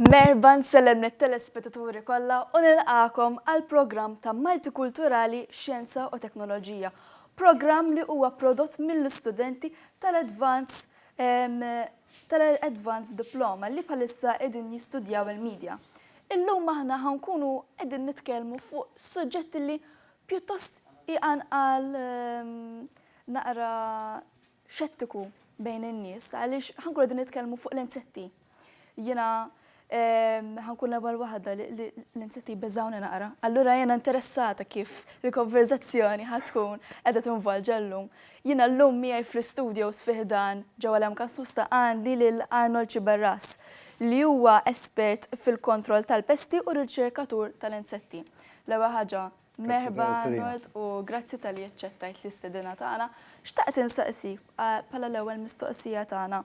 Merħba nsellem lit-telespetaturi kollha u nilqagħkom għall-programm ta' Multikulturali Xjenza u Teknoloġija, programm li huwa prodott mill-istudenti tal-Advance ehm, tal-Advance Diploma li bħalissa qegħdin jistudjaw il-Media. Illum aħna ħa nkunu qegħdin nitkellmu fuq suġġett li pjuttost iqanqal ehm, naqra xettiku bejn in-nies għaliex ħankun qegħdin nitkellmu fuq l-insetti. Jiena ħankun l-ewwel waħda l-insetti beżawni naqra. Allura jiena interessata kif il-konverzazzjoni ħatkun qiegħda tinvolġa llum. Jiena llum miegħi fl-istudio sfiħdan ġewwa l-MK Sosta għandi lil Arnold Ciberras li huwa espert fil-kontroll tal-pesti u riċerkatur tal-insetti. L-ewwel ħaġa Merħba Arnold u grazzi tal-li aċċettajt l-istedina tagħna. Xtaqt insaqsi bħala l-ewwel mistoqsija tagħna.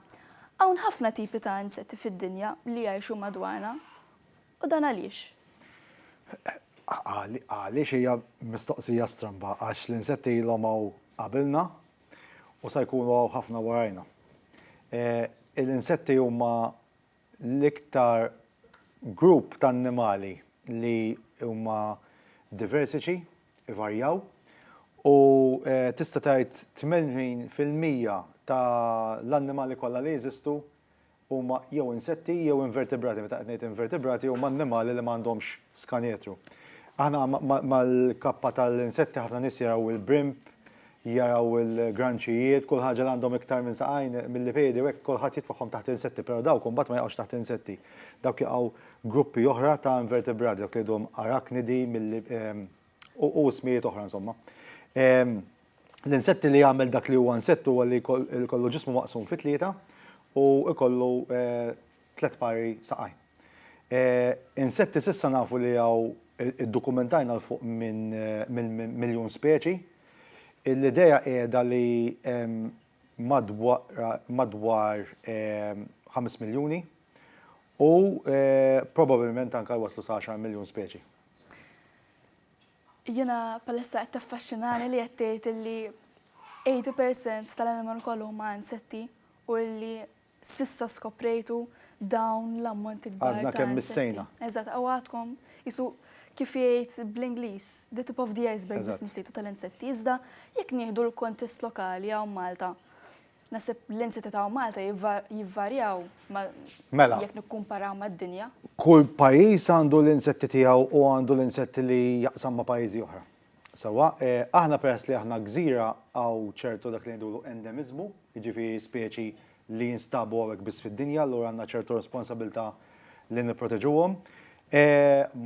Hawn ħafna tipi ta' insetti fid-dinja li jgħixu madwarna u dan għaliex? Għaliex hija mistoqsija stramba għax l-insetti ilhom hawn qabilna u se jkunu hawn ħafna warajna. L-insetti huma L-iktar grupp ta' annimali li huma diversiċi, ivarjaw, u tista' tgħid 80 fil-mija ta' l-annimali kollha li jeżistu huma jew insetti jew invertebrati, meta qed ngħid invertebrati huma annimali li ma għandhomx Skaneetru. Aħna mal-kappa tal-insetti ħafna nies jaraw il-brimb, jaraw il-granċijiet, kull ħaġa li għandhom iktar minn saqajn, milli piedi u hekk, kulħadd jitfagħhom taħt l-insetti, però dawk imbagħad ma jaqgħux taħt l-insetti. Dawk jaqgħu gruppi oħra ta' invertebrati, dawk li jgħiduhom arachnidi, milli, u ismijiet oħra insomma. L-insetti li jagħmel dak li huwa insett huwa li jkollu ġismu maqsum fi tlieta u jkollu tliet pari saqajn. Insetti s'issa nafu li hawn iddukumentajna 'l fuq minn miljun speċi. L-idea qiegħda li hemm madwar ħames miljuni u probabilment anke jwasslu sa għaxar miljun speċi. Jiena bħalissa qed taffaxxinani li qed tgħid li eighty percent tal-animal kollha huma insetti u li S'issa skoprejtu dawn l-ammonti kbar ta' insetti. Għadna kemm missejna. Eżatt, u għadkom, qisu kif jgħid bl-Ingliż, the tip of the iceberg biss missejtu tal-insetti. Iżda jekk nieħdu l-kuntest lokali hawn Malta, naħseb l-insetti ta' hawn Malta jivvarjaw jekk nikkumparaw mad-dinja. Kull pajjiż għandu l-insetti tiegħu u għandu l-insetti li jaqsam ma' pajjiżi oħra. Sewwa, aħna peress li aħna gżira hawn ċertu dak li ngħidulu endemiżmu, jiġifieri speċi li jinstabu hawnhekk biss fid-dinja, allura għandna ċertu responsabilità li nipproteġuhom.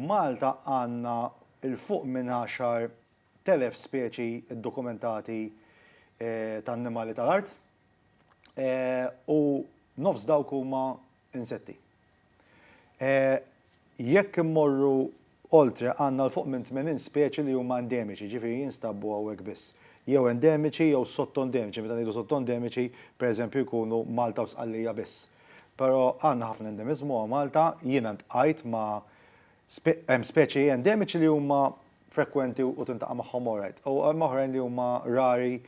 Malta għandna 'l fuq minn għaxar telef speċi ddokumentati ta' annimali tal-art u nofs dawk huma insetti. E Jekk immorru oltre għandna 'l fuq minn 80 speċi li huma endemiċi, jiġifieri jinstabbu hawnhekk biss. Jew endemiċi jew sottoendemiċi, meta ngħidu sottoendemiċi pereżempju jkunu Malta u Sqallija biss. Però għandna ħafna endemiżmu hawn Malta, jiena ltqajt ma' hemm speċi endemiċi li huma frekwenti u tintaqa' magħhom alright, u hemm oħrajn li huma rari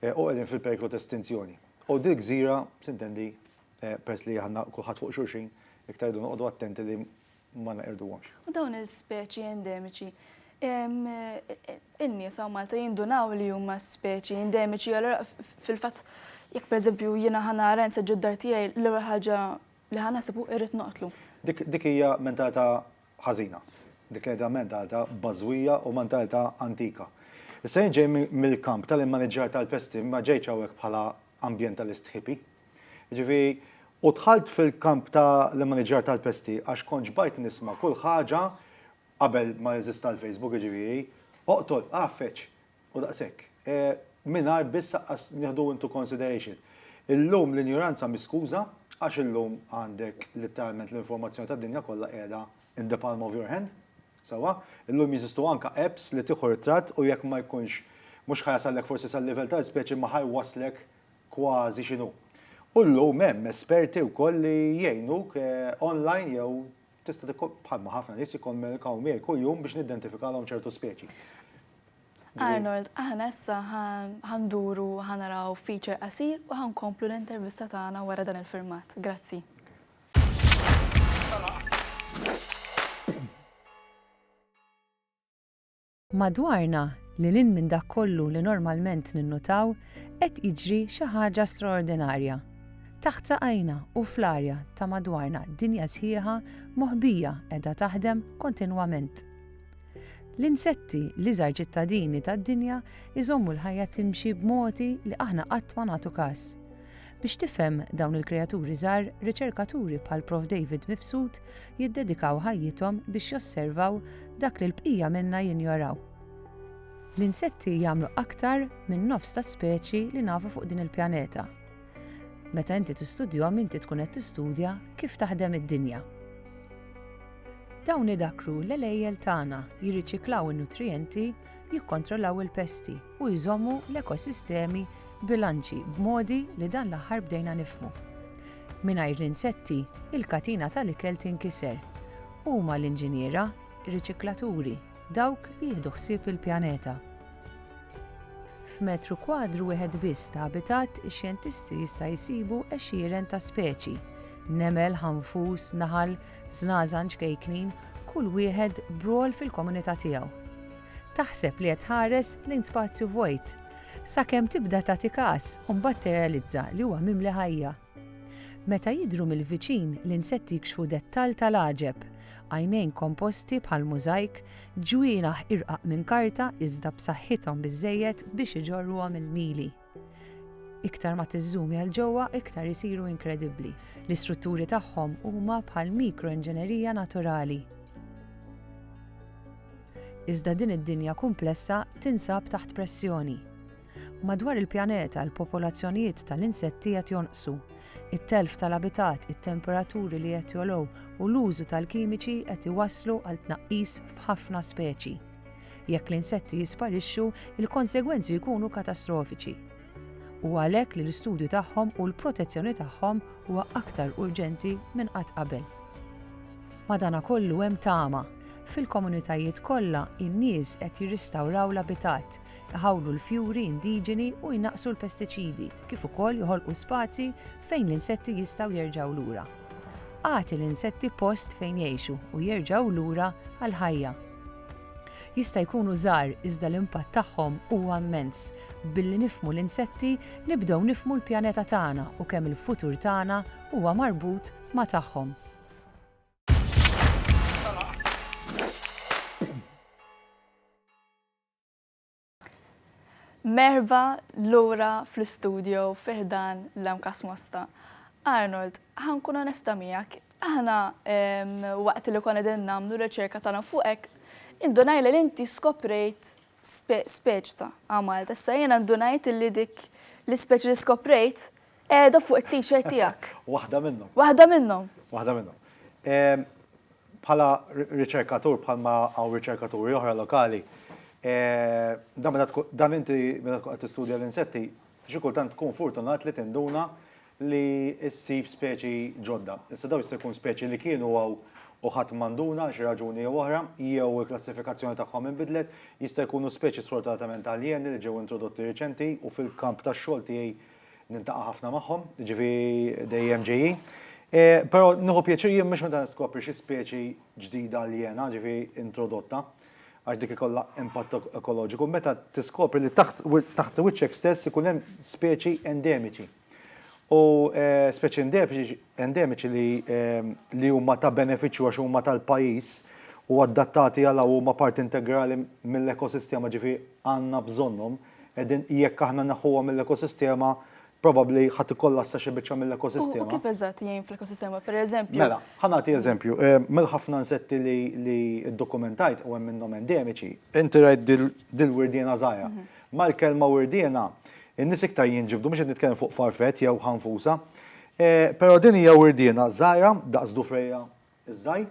u qegħdin fil-periklu ta' estinzjoni. U dil-gżira, sintendi, peress li aħna kulħadd fuq xulxin, iktar irridu noqogħdu attenti li ma neqirduhomx. U dawn il-speċi endemiċi, in-nies hawn Malta jindunaw li huma speċi endemiċi, allura fil-fatt jekk pereżempju jiena ħa nara insa ġod dar tiegħi l-ewwel ħaġa li ħa naħseb hu irrid noqtlu. Dik hija mentalità ħażina. Dik hija mentalità bażwija u mentalità antika. Issa jien ġej mill-kamp tal-immaniġġar tal-pesti, ma ġejtx hawnhekk bħala ambjentalist hippie. Jiġifieri, u dħalt fil-kamp ta' l-immaniġġjar tal-pesti għax kont xbajt nisma' kull ħaġa, qabel ma jeżista l-Facebook jiġifieri, oqtol, għaffeġ, u daqshekk. Mingħajr biss aqqas nieħdu into consideration. Illum l-injoranza mhi skuża, għax illum għandek litteralment l-informazzjoni tad-dinja kollha qiegħda in the palm of your hand, sewwa? Illum jeżistu anke apps li tieħu ritratt u jekk ma jkunx, mhux ħa jasallek forsi sal-livell tal-ispeċi imma ħa jwasslek kważi x'inhu. U llum hemm esperti wkoll li jgħinuk online jew tista' bħalma ħafna nies jikkommunikaw miegħi kuljum biex niddentifikalhom ċertu speċi. Arnold, aħna issa ħanduru ħanaraw feature qasir u ħankomplu l-intervista tagħna wara dan il-filmat. Grazzi. Madwarna, lil hinn minn dak kollu li normalment ninnutaw, qed jiġri xi ħaġa straordinarja. Taħt saqajna u fl-arja ta' madwarna dinja sħiħa moħbija qiegħda taħdem kontinwament. L-insetti, l-iżgħar ċittadini tad-dinja, iżommu l-ħajja timxi b'modi li aħna qatt ma nagħtu kas. Biex tifhem dawn il-kreaturi żgħar, riċerkaturi bħal Prof David Mifsud jiddedikaw ħajjithom biex josservaw dak li l-bqija minna jinjoraw. L-insetti jagħmlu aktar minn nofs tas-speċi li nafu fuq din il-pjaneta. Meta inti tistudjhom inti tkun qed tistudja kif taħdem id-dinja. Dawn idakkru l-għelejjel tagħna jirriċiklaw in-nutrijenti jikkontrollaw il-pesti u jżommu l-ekosistemi bilanċi b'modi li dan l-aħħar bdejna nifhmu. Mingħajr l-insetti, il-katina tal-ikel tinkiser. Huma l-inġiniera, riċiklaturi, dawk li jieħdu ħsieb il-pjaneta. F'metru kwadru wieħed biss ta' abitat, ix-xjentisti jista' jsibu għexieren ta' speċi, nemel, ħanfus, naħal, Żgħażagħ ċkejknin, kull wieħed b'rwol fil-komunità tiegħu. Taħseb li qed tħares lejn spazju vojt, sakemm tibda tagħti każ u mbagħad tirrealizza li huwa mimli ħajja. Meta jidhru mill-viċin l-insetti jkxfu dettall tal-għaġeb, għajnejn komposti bħal mużajk, ġwienaħ irqaq minn karta iżda b'saħħithom biżżejjed biex iġorruhom il-mili. Iktar ma tiżżumi għal ġewwa, iktar isiru inkredibbli. L-istrutturi tagħhom huma bħal mikroinġenerija naturali. Iżda din id-dinja kumplessa tinsab taħt pressjoni. Madwar il-pjaneta l-popolazzjonijiet tal-insetti qed jonqsu. It-telf tal-abitat, it-temperaturi li qed jolow u l-użu tal-kimiċi qed iwasslu għal tnaqqis f'ħafna speċi. Jekk l-insetti jisparixxu, il-konsegwenzi jkunu katastrofiċi. U għalhekk li l-istudju tagħhom u l-protezzjoni tagħhom huwa aktar urġenti minn qatt qabel. Madana kollu hemm tama. Fil-komunitajiet kollha, in-nies qed jirristawraw l-abitat, iħawlu l-fjuri indiġeni u jnaqqsu l-pestiċidi, kif ukoll joħolqu spazji fejn l-insetti jistgħu jerġgħu lura. Agħti l-insetti post fejn jgħixu u jerġgħu lura għall-ħajja. jista' jkunu żgħar iżda l-impatt tagħhom huwa immens. Billi nifhmu l-insetti nibdew nifhmu l-pjaneta tagħna u kemm il-futur tagħna huwa marbut ma' tagħhom. Merħba lura fl-istudio fi ħdan l-MCAS Mosta. Arnold, ħa nkun onesta miegħek, aħna ehm, waqt li konna din nagħmlu riċerka tagħna fuqek, indunajna li inti skoprejt speċi ta' għamal. Tessa jiena ndunajt li dik l-ispeċi li skoprejt Qiegħda fuq it-t-shirt tiegħek. Waħda minnhom. Waħda minnhom. Waħda minnhom. Ehm, bħala riċerkatur, bħalma għaw riċerkaturi oħra lokali, eh, dan inti meta tkun qed tistudja l-insetti, xi kultant tkun fortunat li tinduna li ssib speċi ġodda. Issa daw jista' jkun speċi li kienu għaw u ħadd manduna xi raġuni jew oħra, jew il-klassifikazzjoni tagħhom inbidlet, jista' jkunu speċi sfortunatament aljeni li ġew introdotti riċenti u fil-kamp tax-xogħol tiegħi Nintaqa' ħafna magħhom, jiġifieri dejjem ġejjin. Però nieħu pjaċir jien mhux meta niskopri xi speċi ġdida aljena, jiġifieri introdotta, għax dik ikollha impatt ekoloġiku, meta tiskopri li taħt wiċċek stess ikun hemm speċi endemiċi. U speċi endemiċi li huma ta' benefiċċju għax huma tal-pajjiż u adattati għal hawn huma parti integrali mill-ekosistema, jiġifieri għandna bżonnhom. Qegħdin jekk aħna neħħuha mill-ekosistema probabbli ħa tikkollassa xi biċċa mill-ekosistema. U kif eżatt jgħin fl-ekosistema, pereżempju? Mela, ħa nagħti eżempju, mill-ħafna nsetti li ddokumentajt u hemm minnhom endemiċi, inti rajt dil-wirdiena żgħira. Mal-kelma wirdiena, in-nies iktar jinġibdu, mhux qed nitkellem fuq farfet jew ħanfusa, però din hija wirdiena żgħira daqs dufrejja iż-żgħir,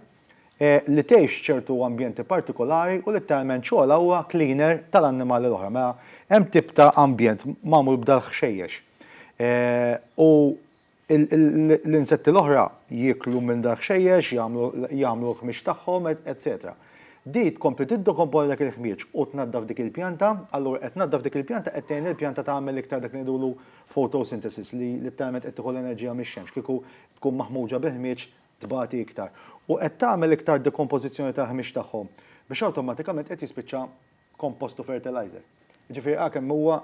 li tgħix ċertu ambjenti partikolari u litteralment xogħolha huwa cleaner tal-annimali l-oħra. Mela hemm tip ta' ambjent magħmul b'dal-ħxejjex u l-insetti l-oħra jieklu minn dal-ħxejjex, jagħmlu jagħmlu l-ħmieġ tagħhom, etsetera. Di tkompli tiddekomponi dak il-ħmieġ u tnaddaf dik il-pjanta, allura qed tnaddaf dik il-pjanta qed tgħin lill-pjanta tagħmel iktar dak li ngħidulu photosynthesis li litteralment qed tieħu l-enerġija mix-xemx, kieku tkun maħmuġa bil-ħmieġ tbati iktar u qed tagħmel iktar dekompożizzjoni tal-ħmix tagħhom biex awtomatikament qed jispiċċa kompost u fertilizer. Jiġifieri ara kemm huwa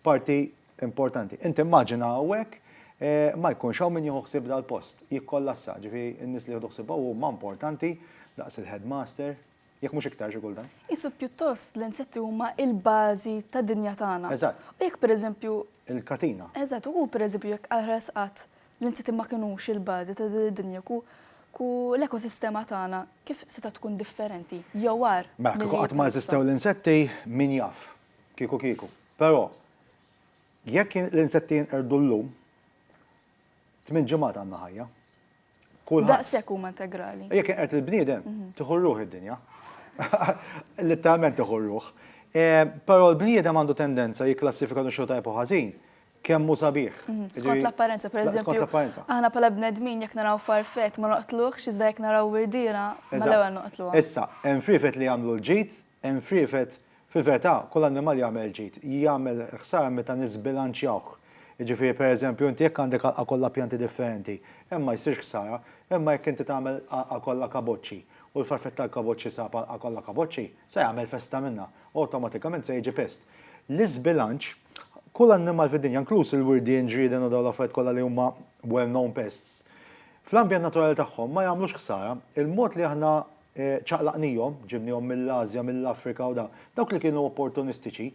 parti importanti. Inti immaġina hawnhekk ma jkunx hawn min jieħu ħsieb dal-post, jikkollassa, ġifieri n-nies li jieħdu ħsiebha huma importanti daqs il-headmaster, Jekk mhux iktar xi kultant. Isu pjuttost l-insetti huma l-bażi tad-dinja tagħna. Eżatt. U jekk pereżempju. Il-katina. Eżatt, u pereżempju jekk aħras qatt l-insetti ma kinux il-bażi ta' din id-dinja, kieku l-ekosistema tagħna kif setgħet tkun differenti jew agħar? Mela, kieku qatt ma eżistew l-insetti, min jaf? Kieku kieku. Però, jekk l-insetti jinqerdu llum, Tmien ġimgħat għandna ħajja. Kulħadd. Daqshekk huma integrali. Jekk inqert il-bniedem, mhm. tieħu r-ruħ id-dinja. Litteralment tieħu r-ruħ. Eh, però l-bniedem għandu tendenza jikklassifika xogħol tajb u ħażin kemm hu sabiħ. Mhm, skont l-apparenza, per eżempju. Skont l-apparenza. Aħna pala bnedmin jekk naraw farfet ma noqtluħx iżda jekk naraw wirdira ma l-ewwel noqtluha. Issa, hemm firfet li jagħmlu l-ġid Hemm friefet, fil-verità kull annimal jagħmel ġid, jagħmel ħsara meta niżbilanċjawh. Jiġifieri pereżempju inti jekk għandek għalqa kollha pjanti differenti, hemm ma jsirx ħsara, imma jekk inti tagħmel għalqa kollha kaboċċi u l-farfet tal-kaboċċi sab għalqa kollha kaboċċi, se jagħmel festa minnha u awtomatikament se jiġi pest. L-iżbilanċ, kull annimal fid-dinja, inkluż il-wirdien, ġrieden u dawn l-affarijiet kollha li huma well-known pests, fl-ambjent naturali tagħhom ma jagħmlux ħsara, il-mod li aħna ċaqlaqnihom, ġibnihom mill-Ażja, mill-Afrika u da. Dawk li kienu opportunistiċi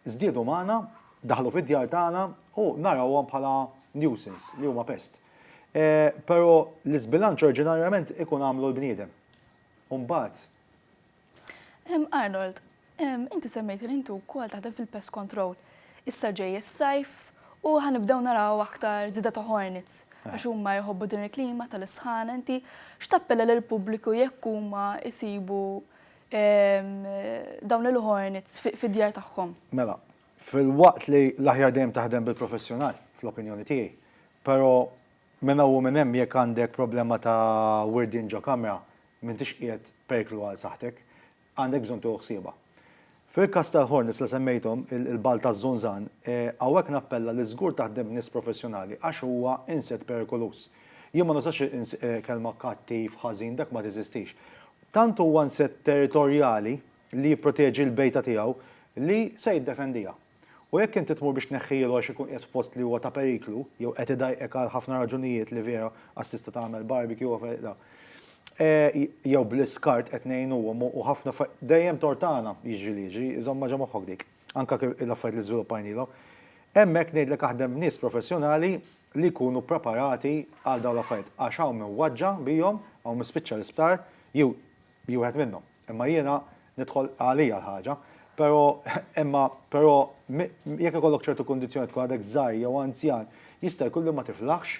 żdiedu magħna, daħlu fid-djar tagħna u narawhom bħala nuisance, li huma pest. Però l-iżbilanċ oriġinarjament ikun għamlu l-bniedem. U mbagħad. Arnold, Inti semmejt li inti wkoll taħdem fil-pest control. Issa ġej is-sajf u ħa nibdew naraw aktar żieda ta' hornets għax huma jħobbu din il-klima tal-isħana. Inti x'tappella lill-pubbliku jekk huma jsibu dawn il-hornets fid-djar tagħhom? Mela, filwaqt li l-aħjar dejjem taħdem bil-professjonal, fl-opinjoni tiegħi, però minn hawn u minn hemm jekk għandek problema ta' wirdien ġo kamra m'intix qiegħed periklu għal saħħtek. għandek bżonn tieħu ħsiebha. Fil-każ tal-ħornies li semmejthom, il-bgħal taż-żunżan, hawnhekk nappella li żgur taħdem b'nies professjonali għax huwa insett perikoluż. Jien ma nużax il-kelma kattiv, ħażin, dak ma teżistix. Tant huwa insett territorjali li jipproteġi l-bejta tiegħu li se jiddefendiha. U jekk inti tmur biex tneħħilu għax ikun qiegħed f'post li huwa ta' periklu, jew qed idajqek għal ħafna raġunijiet li vera għax tista' tagħmel barbecue u affarijiet la. Jew bl-iskart qed ngħinuhom u ħafna dejjem tort tagħna, jiġri li jiġri, żommha ġo moħħok dik. Anke l-affarijiet li żviluppajnilhom. Hemmhekk ngħidlek aħdem b'nies professjonali li jkunu preparati għal dawn l-affarijiet għax hawn min waġġa' bihom, hawn min spiċċa l-isptar, jew wieħed minnhom. Imma jiena nidħol għalija l-ħaġa. Però, imma, però, jekk ikollok ċertu kundizzjonijiet, tkun għadek żgħir jew anzjan, jista' jkun li ma tiflaħx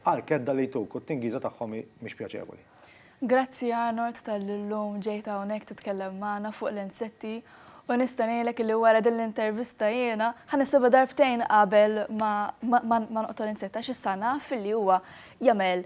għall-kedda li jtuk u t-tingiża tagħhom hi mhix pjaċevoli. Grazzi Arnold talli llum ġejt hawnhekk titkellem magħna fuq l-insetti u nista' ngħidlek li wara din l-intervista jiena ħa nisibha darbtejn qabel ma ma ma noqtol insett għax issa naf li huwa jagħmel